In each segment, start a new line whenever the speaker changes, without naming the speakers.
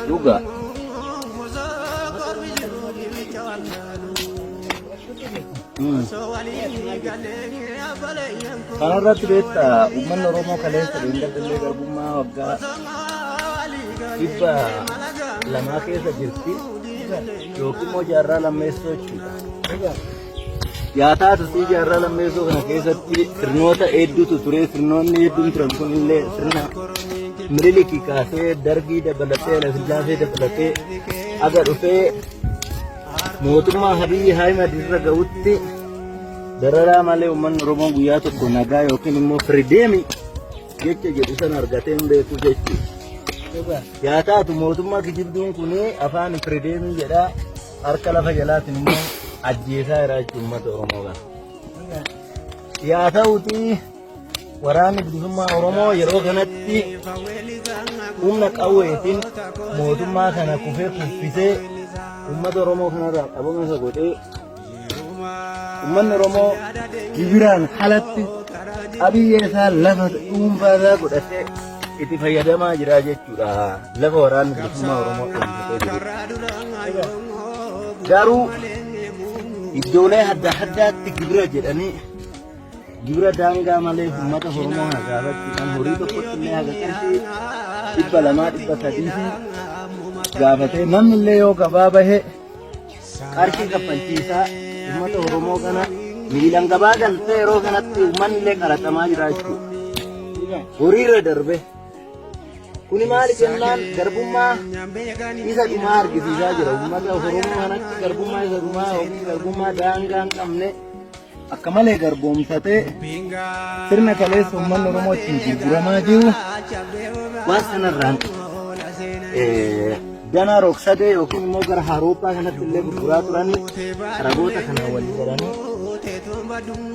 Dhugaa. Kana irratti beekta uummanni Oromoo kaleessa deemgadallee garbummaa waggaa dhibba lamaa keessa jirti. yookiin immoo jaarraa lammeessoo jechuudha. Yaa taatutii jaarraa lammeessoo kana keessatti sirnoota hedduutu ture. Sirnoonni hedduun turan kunillee sirna Miniliki kaasee Dargii dabalatee Hayilasillaasee dabalatee aga dhufee mootummaa Abiy Ahimad irra ga'utti dararaa malee uummanni Oromoo guyyaa tokko nagaa yookiin immoo firideemii jecha jedhu san argatee hin beeku jechuudha. Yaa taatu mootummaa kijibduun kun afaan Ifredeemii jedhaa harka lafa jalaatiin immoo ajjeesaa jira jechuun uummata Oromoo kana. Yaa ta'uti waraanni bilisummaa Oromoo yeroo kanatti humna qawweetiin mootummaa kana kufee kuffisee uummata Oromoo kanarraa qabama isa godhee Uummanni Oromoo gibiraan alatti qabiyyee isaa lafa dhuunfaa isaa godhatee itti fayyadamaa jira jechuudha. Lafa waraanni bilisummaa Oromoo dhuunfatee jiru. Garuu iddoolee adda addaatti gibira jedhanii gibira daangaa malee uummata Oromoo hagaarratti kan horii tokkotti illee haga qarshii dhibba lamaa dhibba sadii fi gaafatee namni illee yoo gabaa bahee qarshii kaffalchiisaa uummata Oromoo kana miilan gabaa galtee yeroo kanatti uummanni illee qaraxamaa jira jechuudha. Horiirra darbe. Kuni maali jennaan garbummaa isa dhumaa argisiisaa jira. Uummata Oromoo kanatti garbummaa isa dhumaa yookiin garbummaa daangaa hin qabne. akka malee garboomsatee sirna kaleessa uummanni Oromoo ittiin gurguramaa jiru waan sanarraan danaa roogsadee yookiin immoo gara Awurooppaa kanatti illee gurguraa turanii ragoota kana wal jedhanii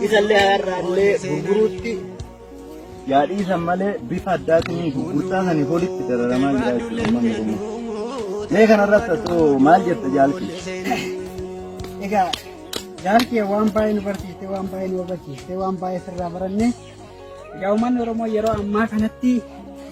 isa illee har'aa illee gurguruutti Yaa dhiisan malee bifa addaatiin gurgurtaa saniif olitti dararamaa jira jechuudha uummanni Oromoo. Mee kanarratti atoo maal jetta jaalti?
Egaa jaalti waan baay'ee nu barsiiste, waan baay'ee nu hubachiiste, waan baay'ee sirraa baranne. Egaa uummanni Oromoo yeroo ammaa kanatti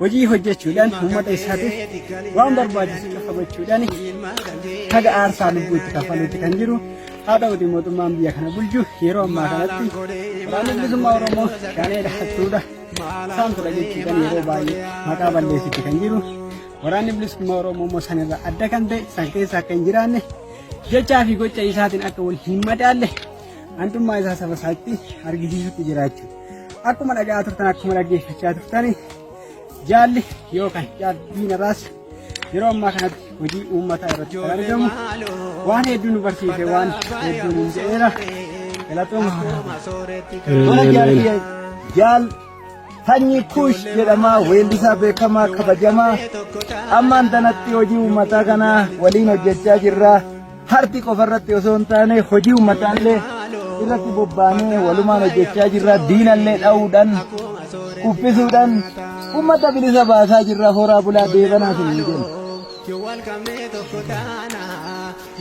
hojii hojjechuudhaan uummata isaatiif waan barbaachisu cufa gochuudhaan haga aarsaa lubbuutti kaffaluutti kan jiru haa ta'uti mootummaan biyya kana bulchu yeroo ammaa kanatti waraanni bilisummaa oromoo shaneedha hattuudha saamtudha jechuudhaan yeroo baay'ee maqaa balleessitti kan jiru waraanni bilisummaa oromoo immoo sanirra adda kan ta'e san keessa akka hin jiraanne jechaa fi gocha isaatiin akka wal hin madaalle hantummaa isaa saba isaatti argisiisutti jiraachuu Akkuma dhaga'aa turtan akkuma dhaggeeffachaa turtan jaalli yookaan jaalbiin irraas yeroo ammaa kanatti hojii uummataa irratti kan argamu waan hedduu nu barsiise waan hedduu nu jedheera galatooma. Mana jaalli jaal sanyii kuush jedhamaa weellisaa beekamaa kabajamaa ammaan tanatti hojii uummataa kanaa waliin hojjechaa jirra. Harti qofa irratti osoo hin taane hojii ummataallee irratti bobbaanee walumaan hojjechaa jirra diinallee dha'uudhaan kuffisuudhaan ummata bilisa baasaa jirra horaa bulaa deebanaa hin jennu. Yoo wal qabnee tokko taana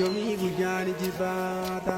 yoomii guyyaan jibbaata.